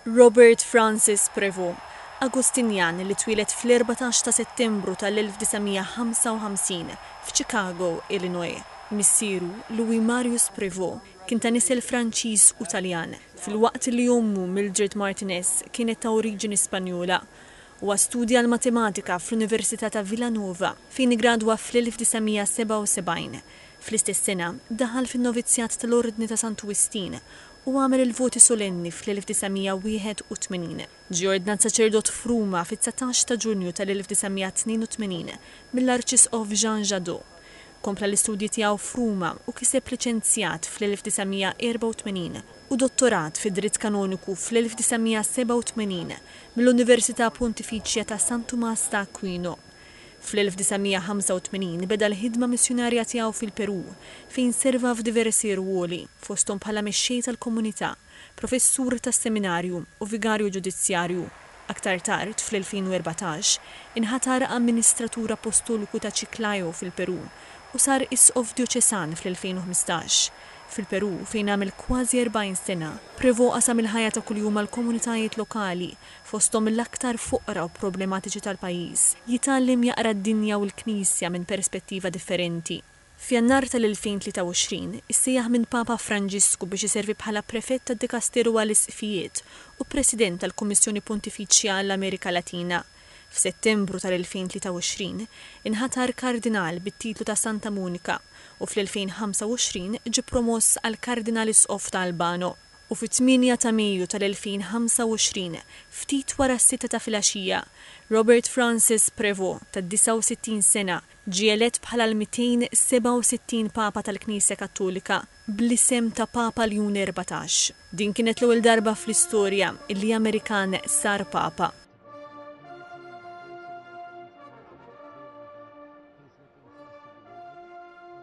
Robert Francis Prévost, Agustinjan li twieled fl-erbatax ta' Settembru tal-1955 f'Chicago, Illinois. Missieru, Louis Marius Prévost, kien ta' nisel Franċiż u Taljan, filwaqt li ommu, Mildred Martinez, kienet ta' oriġini Spanjola. Huwa studja l-Matematika fl-Università ta' Villanova, fejn iggradwa fl-1977. Fl-istess sena, daħal fin-Novizzjat tal-Ordni ta' Santu Wistin u għamel il-voti solenni fl-1981. Ġie ordnat saċerdot f'Ruma fit-dsatax ta' Ġunju tal-1982 mill-Arċisqof Jean Jadot. Kompla l-istudji tiegħu f'Ruma u kiseb liċenzjat fl-1984 u dottorat fid-Dritt Kanoniku fl-1987 mill-Università Pontifiċja ta' San Tumas ta' Aquino. Fl-1985 beda l-ħidma missjunarja tiegħu fil-Perù, fejn serva f'diversi rwoli, fosthom bħala mexxej tal-komunità. professur tas-Seminarju u vigarju ġudizzjarju. Aktar tard, fl-2014, inħatar amministratur appostoliku ta' Chiclayo fil-Perù u sar isqof djoċesan fl-2015. Fil-Perù, fejn għamel kważi 40 sena, Prévost qasam il-ħajja ta' kuljum mal-komunitajiet lokali, fosthom l-aktar foqra u problematiċi tal-pajjiż, jitgħallem jaqra d-dinja u l-Knisja minn perspettiva differenti. F'Jannar tal-2023, issejjaħ minn Papa Franġisku biex iservi bħala Prefett tad-Dikasteru għall-Isqfijiet u President tal-Kummissjoni Pontifiċja għall-Amerika Latina, f'Settembru tal-2023 inħatar Kardinal bit-titlu ta' Santa Monika u fl-2025 ġie promoss għal Kardinal Isqof ta' Albano, u fit-tmienja ta' Mejju tal-2025, ftit wara s-sitta ta' filgħaxija, Robert Francis Prevost, ta' 69 sena, Ġie elett bħala l-267 Papa tal-Knisja Kattolika bl-isem ta' Papa Ljun Erbatax. Din kienet l-ewwel darba fl-istorja li Amerikan sar Papa.